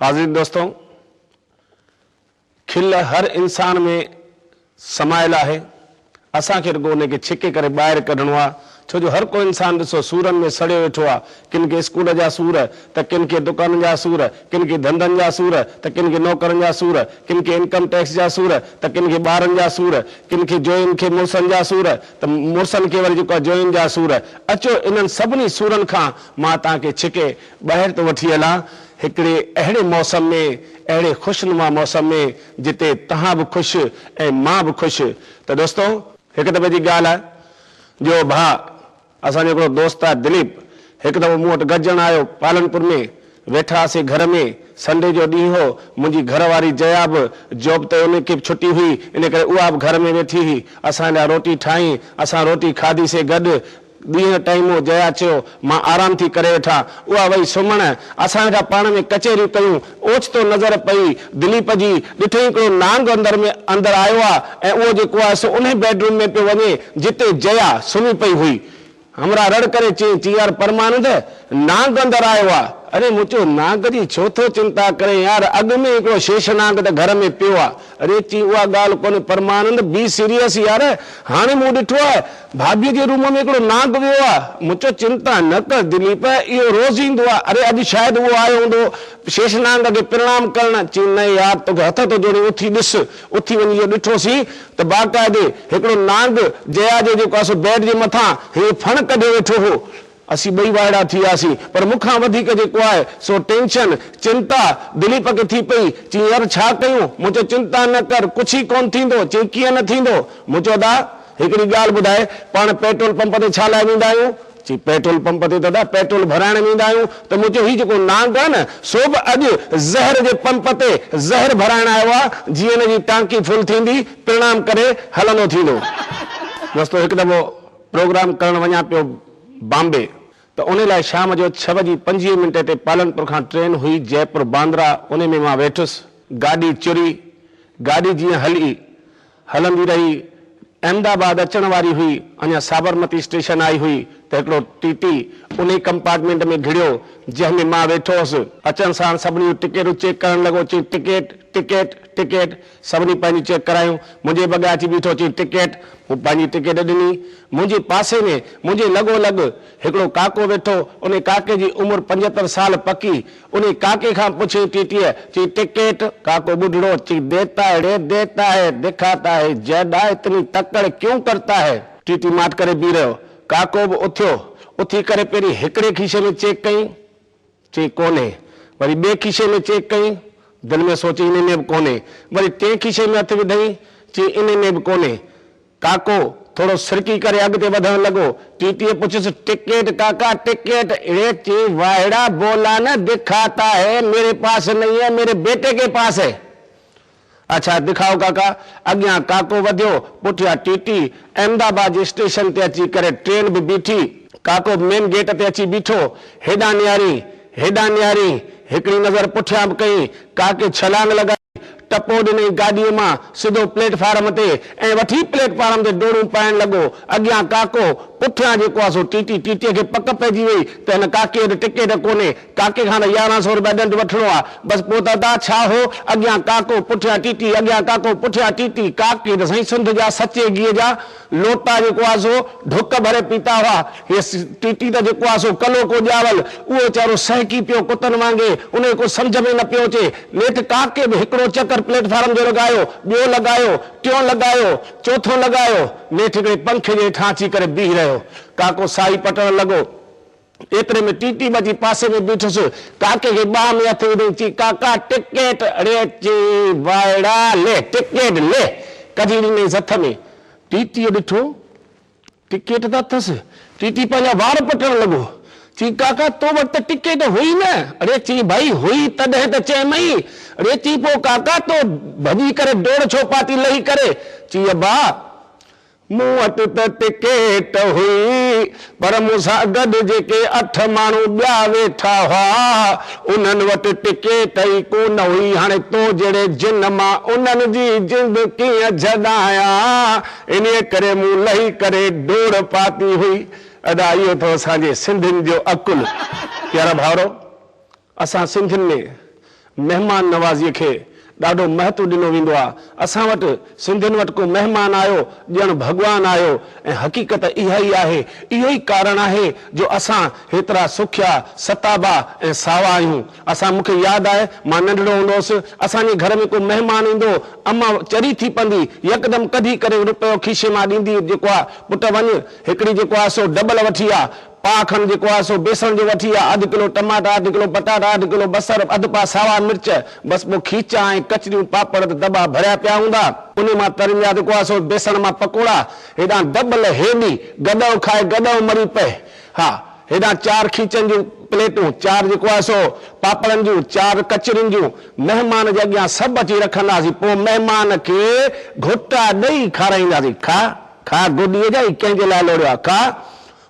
عزيز دوستو! کل هر انسان ۾ سمايل آهي، اسان کي رڳو ان کي ڇڪي ڪري ٻاهر ڪڍڻو آهي، ڇو جو هر ڪو انسان ڏسو سورن ۾ سڙيو ويٺو آهي، ڪن کي اسڪول جا سور ته ڪن کي دڪانن جا سور، ڪن کي ڌنڌن جا سور ته ڪن کي نوڪرن جا سور، ڪن کي انڪم ٽيڪس جا سور ته ڪن کي ٻارن جا سور، ڪن کي جوئين کي مڙسن جا سور ته مڙسن کي وري جيڪو آهي جوئين جا سور، اچو انهن سڀني سورن کان مان توهان کي ڇڪي ٻاهر ته وٺي هلان، هڪڙي اهڙي موسم ۾، اهڙي خوشنما موسم ۾، جتي توهان به خوش ۽ مان به خوش ته دوستو! هڪ دفعي جي ڳالهه آهي جو ڀاء اسان جو هڪڙو دوست آهي دليپ، هڪ دفعو مون وٽ گڏجڻ آيو پالنپور ۾، ويٺا هئاسين گهر ۾، سنڊي جو ڏينهن هو، منهنجي گهر واري جيا به جاب تي ان کي به ڇٽي هئي، ان ڪري اها به گهر ۾ ويٺي هئي، اسان لاء روٽي ٺاهين، اسان روٽي کاڌيسين گڏ، ڏينهن ٽائيم هو جيا چيو، مان آرام ٿي ڪري وٺان. اها وئي سمهڻ. اسان ويٺا پاڻ ۾ ڪچهريون ڪيون. اوچتو نظر پئي دليپ جي. ڏٺئين هڪڙو نانگ اندر ۾ اندر آيو آ ۽ اهو جيڪو آهي سو انهي بيڊ روم ۾ پيو وڃي جتي جيا سمهي پئي هئي. همراهه رڙ ڪري چيائين، چيائين يار پرمانند نانگ اندر آيو آ. اڙي مون چيو نانگ جي ڇو ٿو چنتا ڪرين يار اڳ ۾ ئي هڪڙو شيش نانگ ته گهر ۾ پيو آ. اڙي چين اها ڳالهه ڪونهي پرمانند بي سيريس يار هاڻي مون ڏٺو آهي ڀاڀي جي روم ۾ هڪڙو نانگ ويو آهي مون چيو چنتا نه ڪر دليپ اهو روز ايندو آهي اڙي اڄ شايد اهو آيو هوندو شيش نانگ کي پرڻام ڪرڻ چين نه يار توکي هٿ ٿو جوڙيان اٿي ڏس اٿي وڃي جو ڏٺو سين ته باقاعدي هڪڙو نانگ جيا جي جيڪو آهي سو بيڊ جي مٿان هيئن ڦڻ ڪڍي ويٺو هو اسين ٻئي وائڙا ٿي وياسين. پر مون کان وڌيڪ جيڪو آهي سو ٽينشن، چنتا، دليپ کي ٿي پئي. چيائين يار ڇا ڪيون؟ مون چيو چنتا نه ڪر، ڪجهه ئي ڪونه ٿيندو. چيائين ڪيئن نه ٿيندو؟ مون چيو ادا هڪڙي ڳالهه ٻڌاء، پاڻ پيٽرول پمپ تي ڇا لاء ويندا آهيون؟ چيائين پيٽرول پمپ تي ته ادا پيٽرول ڀرائڻ ويندا آهيون. ته مون چيو هي جيڪو نانگ آهي نه سو به اڄ زهر جي پمپ تي زهر ڀرائڻ آيو آهي. جيئن هن جي ٽانڪي فل ٿيندي پرڻام ڪري هلندو ٿيندو. رستو هڪ دفعو پروگرام ڪرڻ وڃان پيو بامبي ته انهي لاء شام جو ڇهه وڄي پنجويهه منٽ تي پالنپور کان ٽرين هئي جئپور باندرا انهي ۾ مان ويٺس گاڏي چري گاڏي جيئن هل ئي هلندي رهي احمد آباد اچڻ واري هئي اڃان سابرمتي اسٽيشن آئي هئي ته هڪڙو ٽي ٽي انهي ڪمپارٽمينٽ ۾ گهڙيو جنهن ۾ مان ويٺو هوس اچڻ ساڻ سڀني جون ٽڪيٽون چيڪ ڪرڻ لڳو چئي ٽڪيٽ ٽڪيٽ ٽڪيٽ. سڀني پنهنجون چيڪ ڪرايون. منهنجي بگي اچي بيٺو چيائين ٽڪيٽ؟ مون پنهنجي ٽڪيٽ ڏني. منهنجي پاسي ۾ منهنجي لڳو لڳ هڪڙو ڪاڪو ويٺو. انهي ڪاڪي جي عمر پنجهتر سال پڪي. انهي ڪاڪي کان پڇيائين ٽيٽيء، چيائين ٽڪيٽ؟ ڪاڪو ٻڍڙو، چيائين ديتا هي ري ديتا هي، دکاتا هي جئڊا اتني تڪڙ ڪيون ڪرتا هي. ٽيٽي ماٺ ڪري بيهي رهيو. ڪاڪو به اٿيو. اٿي ڪري پهرين هڪڙي کيسي ۾ چيڪ ڪيائين. چيائين ڪونهي. وري ٻئي کيسي ۾ چيڪ ڪيائين. دل ۾ سوچيائين انهي ۾ به ڪونهي. وري ٽئين کيسي ۾ هٿ وڌائين. چيائين انهي ۾ به ڪونهي. ڪاڪو ٿورو سرڪي ڪري اڳتي وڌڻ لڳو. ٽي ٽيء پڇيس ٽڪيٽ ڪاڪا ٽڪيٽ؟ اڙي چيائين واهڙا بولا نه دکاتا هي ميري پاس نهين هي ميري بيٽي ڪي پاس هي. اڇا دکاء ڪاڪا. اڳيان ڪاڪو وڌيو، پٺيان ٽي ٽي. احمد آباد جي اسٽيشن تي اچي ڪري ٽرين به بيٺي. ڪاڪو به مين گيٽ تي اچي بيٺو. هيڏانهن نهارين، هيڏانهن نهارين. هڪڙي نظر پٺيان به ڪئي. ڪاڪي ڇلانگ لڳائي، ٽپو ڏنائين گاڏيء مان سڌو پليٽ فارم تي ۽ وٺي پليٽ فارم تي ڊوڙون پائڻ لڳو. اڳيان ڪاڪو، پٺيان جيڪو آهي سو ٽي ٽي. ٽي ٽي کي پڪ پئجي وئي ته هن ڪاڪي وٽ ٽڪيٽ ڪونهي. ڪاڪي کان يارهن سئو روپيا ڏنڊ وٺڻو آ. بس پوء ته ادا ڇا هو، اڳيان ڪاڪو پٺيان ٽي ٽي، اڳيان ڪاڪو پٺيان ٽي ٽي. ڪاڪي ته سائين سنڌ جا سچي گيهه جا لوٽا جيڪو آ سو ڍڪ ڀري پيتا هئا. هيء ٽي ٽي ته جيڪو آ سو ڪلو ڪو ڄاول. اهو ويچارو سهڪي پيو ڪتن وانگي. ان کي ڪو سمجهه ۾ نه پيو اچي. نيٺ ڪاڪي به هڪڙو چڪر پليٽ فارم جو لڳايو، ٻيو لڳايو، ٽيون لڳايو، چوٿون لڳايو. نيٺ هڪڙي پنکي جي هيٺان اچي ڪري بيهي رهيو. ڪاڪو ساهي پٽڻ لڳو. ايتري ۾ ٽي ٽي بچي پاسي ۾ بيٺس ڪاڪي کي ٻانهن ۾ هٿ وڌي چي ڪاڪا ٽڪيٽ ڙي چي وائڙا لي ٽڪيٽ لي ڪڍي ڏنيس هٿ ۾ ٽي ٽي ڏٺو ٽڪيٽ ته اٿس ٽي ٽي پنهنجا وار پٽڻ لڳو چي ڪاڪا تو وٽ ته ٽڪيٽ هئي نه ڙي چي ڀائي هئي تڏهن ته چيمئين ڙي چي پو ڪاڪا تو ڀڄي ڪري ڊوڙ ڇو پاتي لهي ڪري چي ابا مون وٽ ته ٽڪيٽ هئي پر مون سان گڏ جيڪي اٺ ماڻهو ٻيا ويٺا هئا انهن وٽ ٽڪيٽ ئي ڪونه هئي هاڻي تو جهڙي جن مان انهن جي جند ڪيئن جهڏايان انهيء ڪري مون لهي ڪري ڊوڙ پاتي هئي. ادا اهو اٿو اسان جي سنڌين جو عقل. پيارا ڀائرو! اسان سنڌين ۾ مهمان نوازيء کي ڏاڍو مهتو ڏنو ويندو آ، اسان وٽ سنڌين وٽ ڪو مهمان آيو ڄڻ ڀڳوان آيو ۽ حقيقت اها ئي آهي، اهو ئي ڪارڻ آهي جو اسان هيترا سکيا، ستابا ۽ ساوا آهيون. اسان مون کي ياد آهي مان ننڍڙو هوندو هوس، اسان جي گهر ۾ ڪو مهمان ايندو، اما چري ٿي پندي، يڪدم ڪڍي ڪري رپيو کيشي مان ڏيندي جيڪو آ پٽ وڃ هڪڙي جيڪو آ سو ڊبل وٺي آ، پاء کن جيڪو آهي سو بيسڻ جو وٺي آء، اڌ ڪلو ٽماٽا، اڌ ڪلو پٽاٽا، اڌ ڪلو بصر، اڌ پاء ساوا مرچ، بس ٻيو کيچا ۽ ڪچريون، پاپڙ ته دٻا ڀريا پيا هوندا. انهي مان تريندا جيڪو آهي سو بيسڻ مان پڪوڙا، هيڏانهن دٻل هيڏي، گڏهو کائي گڏهو مري پئي. ها، هيڏانهن چار کيچن جون پليٽون، چار جيڪو آهي سو پاپڙن جون، چار ڪچرين جون، مهمان جي اڳيان سڀ اچي رکنداسين، پوء مهمان کي گهوٽا ڏئي کارائينداسين. کا، کا، گوڏيء جا هي ڪنهن جي لاء لوڙيو آهي؟ کا،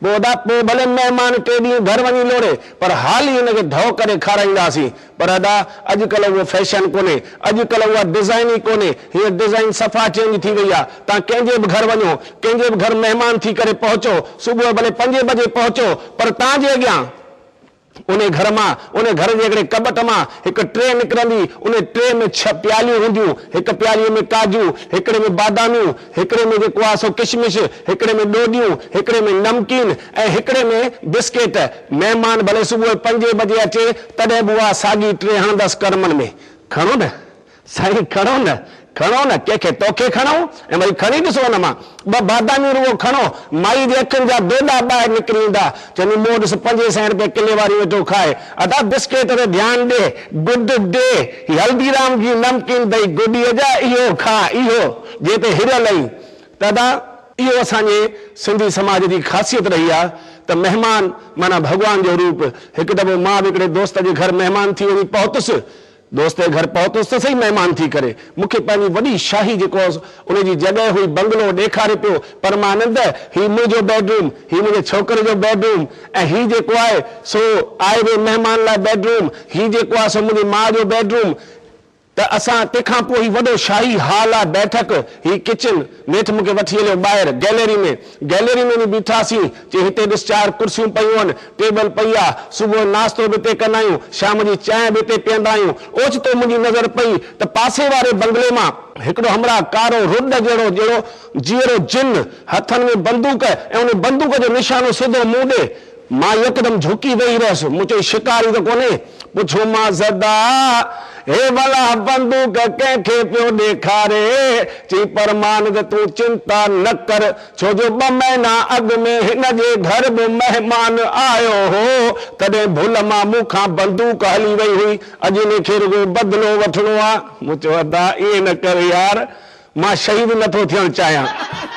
ٻوڏا پوء ڀلي مهمان ٽي ڏينهن گهر وڃي لوڙي پر حال ئي هن کي ڌئو ڪري کارائينداسين. پر ادا اڄ ڪلهه اهو فيشن ڪونهي. اڄ ڪلهه اها ڊزائين ئي ڪونهي. هينئر ڊزائين صفا چينج ٿي وئي آهي. تان ڪنهن جي به گهر وڃو، ڪنهن جي به گهر مهمان ٿي ڪري پهچو، صبح ڀلي پنجين بجي پهچو پر تان جي اڳيان، انهي گهر مان، انهي گهر جي هڪڙي ڪٻٽ مان هڪ ٽري نڪرندي، انهي ٽري ۾ ڇهه پياليون هونديون، هڪ پيالي ۾ ڪاجو، هڪڙي ۾ باداميون، هڪڙي ۾ جيڪو آهي سو ڪشمش، هڪڙي ۾ ڏوڏيون، هڪڙي ۾ نمڪين ۽ هڪڙي ۾ بسڪيٽ. مهمان ڀلي صبح پنجين بجي اچي، تڏهن به اها ساڳي ٽري هڻندس ڪرمن ۾. گهڻو نه. سائين کڻو نه کڻو نه ڪنهن کي توکي کڻئون ۽ وري کڻي ڏسو ان مان ٻه باداميون روئو کڻو مائي جي اکين جا دوڏا ٻاهر نڪري ايندا چوندي مون ڏس پنجين سئين روپين ڪلي واريون ويٺو کائي ادا بسڪيٽ تي ڌيان ڏي گڊ ڊي هي هلدي رام جي نمڪين دئي گڊي جا اهو کاء اهو جي تي هريل اهين ته ادا اهو اسان جي سنڌي سماج جي خاصيت رهي آهي ته مهمان معنيٰ ڀڳوان جو روپ هڪ دفعو مان به هڪڙي دوست جي گهر مهمان ٿي وڃي پهتس دوستي گهر پهتس ته سهي مهمان ٿي ڪري مون کي پنهنجي وڏي شاهي جيڪو ان جي جڳهه هئي بنگلو ڏيکاري پيو پرمانند هي منهنجو بيڊروم هي منهنجي ڇوڪري جو بيڊروم ۽ هي جيڪو آهي سو آئي وئي مهمان لاء بيڊروم هي جيڪو آهي سو منهنجي ماء جو بيڊروم ته اسان تنهن کان پوء هي وڏو شاهي هال آهي بيٺڪ هي ڪچن نيٺ مون کي وٺي هليو ٻاهر گئلري ۾. گئلري ۾ وڃي بيٺاسين. چيائين هتي ڏس چار ڪرسيون پيون هن، ٽيبل پئي آ. صبح جو ناشتو به هتي ڪندا آهيون. شام جي چانهه به هتي پيئندا آهيون. اوچتو منهنجي نظر پئي ته پاسي واري بنگلي مان، هڪڙو همراهه ڪارو رڍ جهڙو جهڙو جيئرو جن، هٿن ۾ بندوق ۽ ان بندوق جو نشانو سڌو مون ڏي، مان يڪدم جهڪي ويهي رهيس. مون چيو، شڪاري ته ڪونهي؟ پڇيومانس، ادا، هي ڀلا بندوق ڪنهن کي پيو ڏيکاري؟ چي، پرمانند تون چنتا نه ڪر، ڇو جو ٻه مهينا اڳ ۾ هن جي گهر به مهمان آيو هو، تڏهن ڀل مان مون کان بندوق هلي وئي هئي، اڄ هن کي رڳو بدلو وٺڻو آ. مون چيو، ادا، ائين نه ڪر يار، مان شهيد نٿو ٿيڻ چاهيان.